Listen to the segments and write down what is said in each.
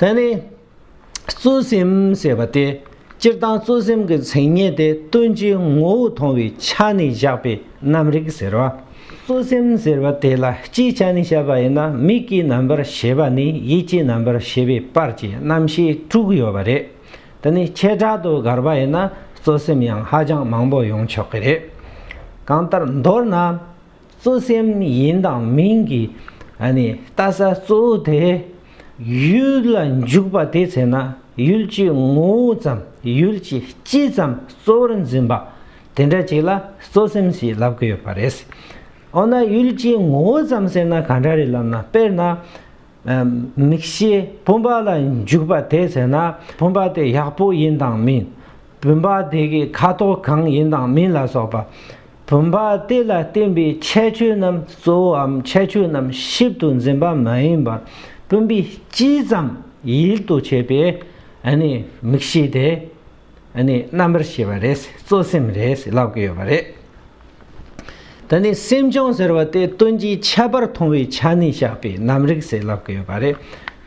དེ་ནི། གཙོ་སེམས་ཞེས་པ་སྟེ་སྤྱིར་བཏང་གཙོ་སེམས་ཀྱི་མཚན་ཉིད་དེ་སྟོན་བྱའི་ངོ་བོ་མཐོང་བའི་ཆ་ནས་བཞག་པའི་རྣམ་རིག་ཟེར་བ། གཙོ་སེམས་ཟེར་བ་དེ་ལ་སྤྱིའི་ཆ་ནས་བཤད་པ་ཡིན་ན་མིག་གི་རྣམ་པར་ཤེས་པ་ནས་ཡིད་ཀྱི་རྣམ་པར་ཤེས་པའི་བར་གྱི་རྣམ་ཤེས་དྲུག་ཡོད་པ་རེད། དེ་ནི་བྱེ་བྲག་ཏུ་དགར་བ་ཡིན་ན་གཙོ་སེམས་ཡང་ཧ་ཅང་མང་པོ་ཡོང་ཆོག་གི་རེད། གང་ལྟར་མདོར་ན། གཙོ་སེམས་ཡིན་དང་མིན་གྱི་ལྟ་ས་གཙོ་བོ་དེ་ཡུལ་ལ་འཇུག་པ་དེ་བྱས་ན་ཡུལ་གྱི་ངོ་བོ་ཙམ་ཡུལ་གྱི་སྤྱི་ཙམ་གཙོ་བོར་འཛིན་པ་དེ་འདྲ་ཅིག་ལ་གཙོ་སེམས་ཞེས་ལབ་ཀྱི་ཡོད་པ་རེད། འོ་ན་ཡུལ་གྱི་ངོ་བོ་ཙམ་ཟེར་ན་གང་འདྲ་རེད་ལབ་ན་དཔེར་ན། མིག་ཤེས་བུམ་པ་ལ་འཇུག་པ་དེ་བྱས་ན་བུམ་པ་དེ་ཡག་པོ་ཡིན་དང་མིན། བུམ་པ་དེ་གི་ཁ་དོག་གང་ཡིན་དང་མིན་ལ་སོགས་པ་བུམ་པ་དེ་ལ་བརྟེན་པའི་ཁྱད་ཆོས་རྣམས་གཙོ་བོའམ་ཁྱད་ཆོས་རྣམས་ཞིབ་ཏུ་འཛིན་པ་མ་ཡིན་པར་བུམ་པའི་སྤྱི་ཙམ་ཡིད་དུ་བྱེད་པའི་དམིགས་བྱེད་དེ་རྣམ་པར་ཤེས་པ་རེད། གཙོ་སེམས་རེད་ཟེར་ལབ་ཀྱི་ཡོད་པ་རེད། ད་ནི་སེམས་བྱུང་ཟེར་བ་དེ་དོན་གྱི་ཁྱད་པར་མཐོང་བའི་ཆ་ནས་བཞག་པའི་རྣམ་རིག་ཟེར་ལབ་ཀྱི་ཡོད་པ་རེད།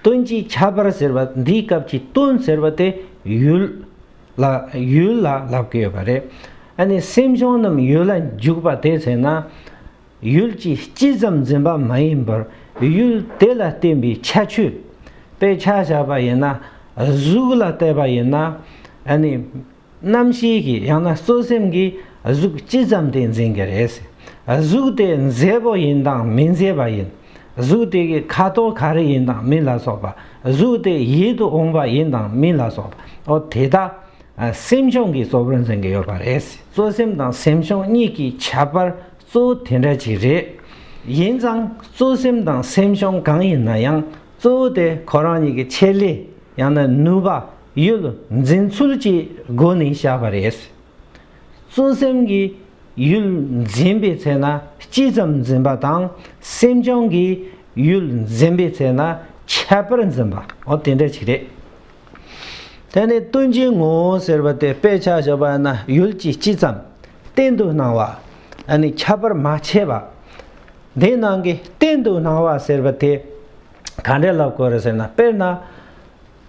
དོན་གྱི་ཁྱད་པར་ཟེར་བ་འདིའི་སྐབས་ཀྱི་དོན་ཟེར་བ་དེ་ཡུལ། ལ་ཡུལ་ལ་ལབ་ཀྱི་ཡོད་པ་རེད། ཨ་ནི་སེམས་བྱུང་རྣམས་ཡུལ་ལ་འཇུག་པ་དེ་ཚེ་ན། ཡུལ་གྱི་སྤྱི་ཙམ་འཛིན་པ་མ་ཡིན་པར་ཡུལ་དེ་ལ་བརྟེན་པའི་ཁྱད་ཆོས་དཔེ་ཆ་བཞག་པ་ཡིན་ན། གཟུགས་ལ་བལྟས་པ་ཡིན་ན། ཨ་ནི་རྣམ་ཤེས་ཀྱི་ཡང་ན་གཙོ་སེམས་ཀྱིས་གཟུགས་སྤྱི་ཙམ་དེ་འཛིན་གྱི་རེད། གཟུགས་དེ་མཛེས་པོ་ཡིན་དང་མི་མཛེས་པ་ཡིན། གཟུགས་དེ་གའི་ཁ་དོག་ག་རེ་ཡིན་དང་མིན་ལ་སོགས་པ། གཟུགས་དེ་ཡིད་དུ་འོང་བ་ཡིན་དང་མིན་ལ་སོགས་པའོ། དེ་དག་སེམས་བྱུང་གི་གཙོ་བོར་འཛིན་གྱི་ཡོད་པ་རེད། གཙོ་སེམས་དང་སེམས་བྱུང་གཉིས་ཀྱི་ཁྱད་པར་གཙོ་བོ་དེ་འདྲ་ཅིག་རེད། ཡིན་ཙང་གཙོ་སེམས་དང་སེམས་བྱུང་གང་ཡིན་ན་ཡང་གཙོ་བོ་དེ་ཁོ་རང་ཉིད་ཀྱི་ཆེད་ལས་ཡང་ན་ནུས་པ། ཡུལ། འཛིན་ཚུལ་གྱི་སྒོ་ནས་བཞག་པ་རེད། བརྩོན་སེམས་ཀྱི་ཡུལ་འཛིན་པའི་ཚེ་ན་སྤྱི་ཙམ་འཛིན་པ་དང། སེམས་བྱུང་གི་ཡུལ་འཛིན་པའི་ཚེ་ན་ཁྱད་པར་འཛིན་པ། འོ་དེ་འདྲ་ཞིག་རེད། དེ་ནི་ལྟུང་བྱའི་ངོ་བོ་ཟེར་བ་དེ་དཔེ་ཆ་བཞག་པ་ན་ཡུལ་གྱི་སྤྱི་ཙམ་གཏན་དུ་སྣང་བ། ཨ་ནི་ཁྱད་པར་མ་ཕྱེ་བ། དེའི་ནང་གི་གཏན་དུ་སྣང་བ་ཟེར་བ་དེ་ག་འདྲའི་བསླབ་བསྐོར་རེད་ཟེར་ན་དཔེར་ན།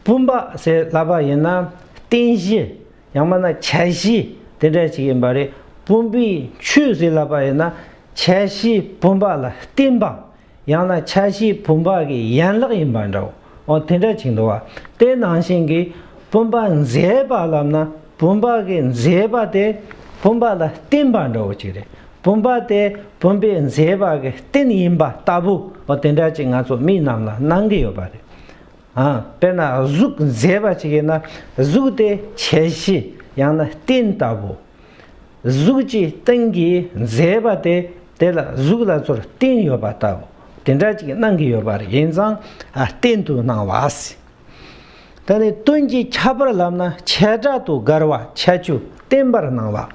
བུམ་པ་ཞེས་བསླབ་པ་ཡིན་ན་རྟེན་གཞི་ཡང་མ་ན་ཁྱད་གཞི་དེ་འདྲ་ཞིག་ཡིན་པ་རེད་བུམ་པའི་ཆོས་ཟེར་ལབ་པ་ཡིན་ན་ཁྱད་གཞི་བུམ་པ་ལ་བརྟེན་པ་ཡང་ན་ཁྱད་གཞི་བུམ་པ་གི་ཡན་ལག་ཡིན་པ་འདྲ་བོ་དེ་འདྲ་ཞིག་འདུག་དེ་ནང་བཞིན་གྱི་བུམ་པ་མཛེས་པ་ལབ་ན་བུམ་པ་གི་མཛེས་པ་དེ་བུམ་པ་ལ་བརྟེན་པ་འདྲ་བོ་ཅིག་རེད་བུམ་པ་དེ་བུམ་པའི་མཛེས་པ་གི་རྟེན་ཡིན་པ་ལྟ་བུ་དེ་འདྲ་ཅིག་ང་ཚོ་མི་རྣམས་ལ་སྣང་གི་ཡོད་པ་རེད། དཔེར་ན་གཟུགས་མཛེས་པ་ཞིག་ཡིན་ན་གཟུགས་དེ་བྱད་བཞི་ཡང་ན་སྟན་ལྟ་བུ། གཟུགས་ཀྱི་སྟེང་གི་མཛེས་པ་དེ་དེ་ལ་གཟུགས་ལ་ཚུར་སྟེང་ཡོད་པ་ལྟ་བུ་དེ་འདྲ་ཅིག་སྣང་གི་ཡོད་པ་རེད་ཡིན་ཙང་སྟན་དུ་སྣང་བ། ད་ནི་སྟོན་གྱི་ཁྱད་པར་ལབ་ན་བྱེ་བྲག་ཏུ་དགར་བ་བྱ་ཆུ་སྟན་པར་སྣང་བ།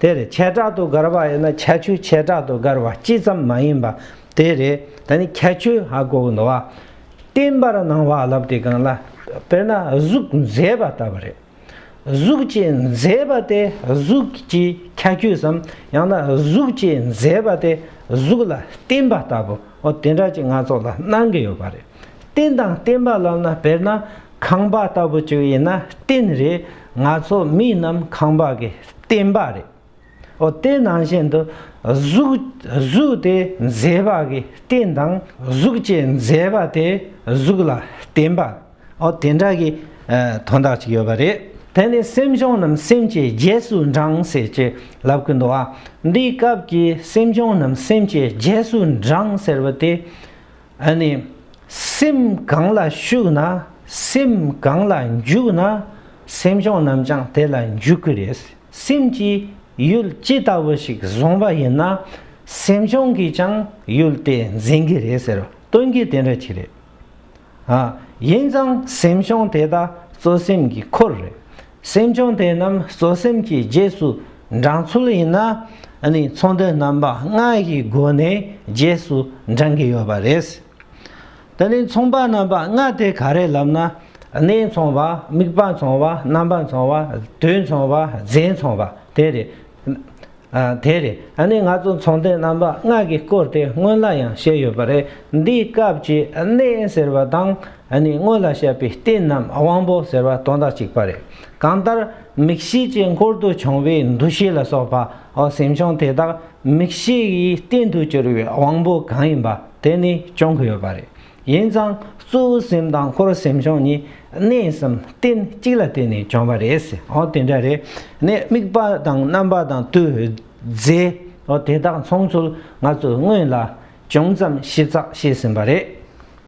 དེ་རེད་བྱེ་བྲག་ཏུ་དགར་བ་ཡིན་ན་བྱ་ཆུ་བྱེ་བྲག་ཏུ་དགར་བ་སྤྱི་ཙམ་མ་ཡིན་པ་དེ་རེད་ད་ནི་བྱ་ཆུ་ཧ་གོ་གི་འདུག་བ། བརྟན་པར་སྣང་བ་བསླབ་སྟེ་གང་ལ་དཔེར་ན་གཟུགས་མཛེས་པ་ལྟ་བུ་རེད། གཟུགས་ཀྱི་མཛེས་པ་དེ་གཟུགས་ཀྱི་ཁྱད་ཆོས་སམ་ཡང་ན་གཟུགས་ཀྱི་མཛེས་པ་དེ་གཟུགས་ལ་བརྟེན་པ་ལྟ་བུ་འོ་དེ་འདྲ་ཅིག་སྣ་ཚོགས་ལ་སྣང་གི་ཡོད་པ་རེད། རྟེན་དང་བརྟེན་པ་ལབ་ན་དཔེར་ན་ཁང་པ་ལྟ་བུ་ཅིག་ཡིན་ན་རྟེན་རེད་ང་ཚོ་མི་རྣམས་ཁང་པ་གི་བརྟེན་པ་རེད། འོ་དེ་ནང་བཞིན་དུ་གཟུགས་དེ་མཛེས་པ་གི་རྟེན་དང་གཟུགས་ཅན་མཛེས་པ་དེ་གཟུགས་ལ་བརྟེན་པ་འོ་དེ་འདྲ་གི་དོན་དག་ཅིག་ཡོད་པ་རེད་དེ་ནི་སེམས་བྱུང་རྣམས་སེམས་ཀྱི་རྗེས་སུ་འབྲང་ཟེར་ཅེས་ལབ་ཀི་འདུག་ཨ་འདིའི་སྐབས་ཀྱི་སེམས་བྱུང་རྣམས་སེམས་ཀྱི་རྗེས་སུ་འབྲང་ཟེར་བ་དེ་ནི་སེམས་གང་ལ་ཞུགས་ན་སེམས་གང་ལ་འཇུག་ན་སེམས་བྱུང་རྣམས་ཀྱང་དེ་ལ་འཇུག་གི་རེད། སེམས་ཀྱིས་ཡུལ་ཅི་ལྟ་བུ་ཞིག་བཟུང་བ་ཡིན་ན་སེམས་བྱུང་གིས་ཀྱང་ཡུལ་དེ་འཛིན་གྱི་རེད་ཟེར་བ་སྟོན་གྱི་དེ་འདྲ་གྱི་རེད། ཨ། ཡིན་ཙང་སེམས་བྱུང་དེ་དག་གཙོ་སེམས་ཀྱི་འཁོར་རེད། སེམས་བྱུང་དེ་རྣམས་གཙོ་སེམས་ཀྱི་རྗེས་སུ་འབྲང་ཚུལ་ཡིན་ན་ནི་ཚོང་དོན་རྣམ་པ་ལྔ་ཡི་སྒོ་ནས་རྗེས་སུ་འབྲང་གི་ཡོད་པ་རེད། དེ་ནས་མཚུངས་པ་རྣམ་པ་ལྔ་སྟེ་ག་རེ་ལབ་ན། གནས་མཚུངས་པ་དམིགས་པ་མཚུངས་པ་རྣམ་པ་མཚུངས་པ་དུས་མཚུངས་པ་རྫས་མཚུངས་པ་དེ་རེད། དེ་རེད་ནི་ང་ཚོ་མཚུངས་ལྡན་རྣམ་པ་ལྔ་གི་སྐོར་དེ་སྔོན་ལ་ཡང་བཤད་ཡོད་པ་རེད། འདིའི་སྐབས་ཀྱི་གནས་ཟེར་བ་དང་ནི་སྔོན་ལ་བཤད་པའི་རྟེན་ནམ་དབང་པོ་ཟེར་བ་དོན་དག་གཅིག་པ་རེད། གང་ལྟར་མིག་ཤེས་ཀྱི་འཁོར་དུ་བྱུང་བའི་འདུ་ཤེས་ལ་སོགས་པའོ་སེམས་བྱུང་དེ་དག་མིག་ཤེས་ཡི་རྟེན་དུ་གྱུར་བའི་དབང་པོ་གང་ཡིན་པ། དེ་ནི་སྐྱོང་གི་ཡོད་པ་རེད། ཡིན་ཙང་གཙོ་བོའི་སེམས་དང་འཁོར་བའི་སེམས་སྐྱོང་གཉིས་གནས་གསུམ་རྟེན་གཅིག་ལ་བརྟེན་ནས་སྐྱོང་བ་རེད། འོ་དེ་འདྲ་རེད། ནས་དམིགས་པ་དང་རྣམ་པ་དང་དུས་རྫས། འོ་དེ་དག་མཚུངས་ཚུལ་ང་ཚོས་སྔོན་ལ་ཅུང་ཙམ་ཞིབ་ཚགས་བཤད་ཟིན་པ་རེད།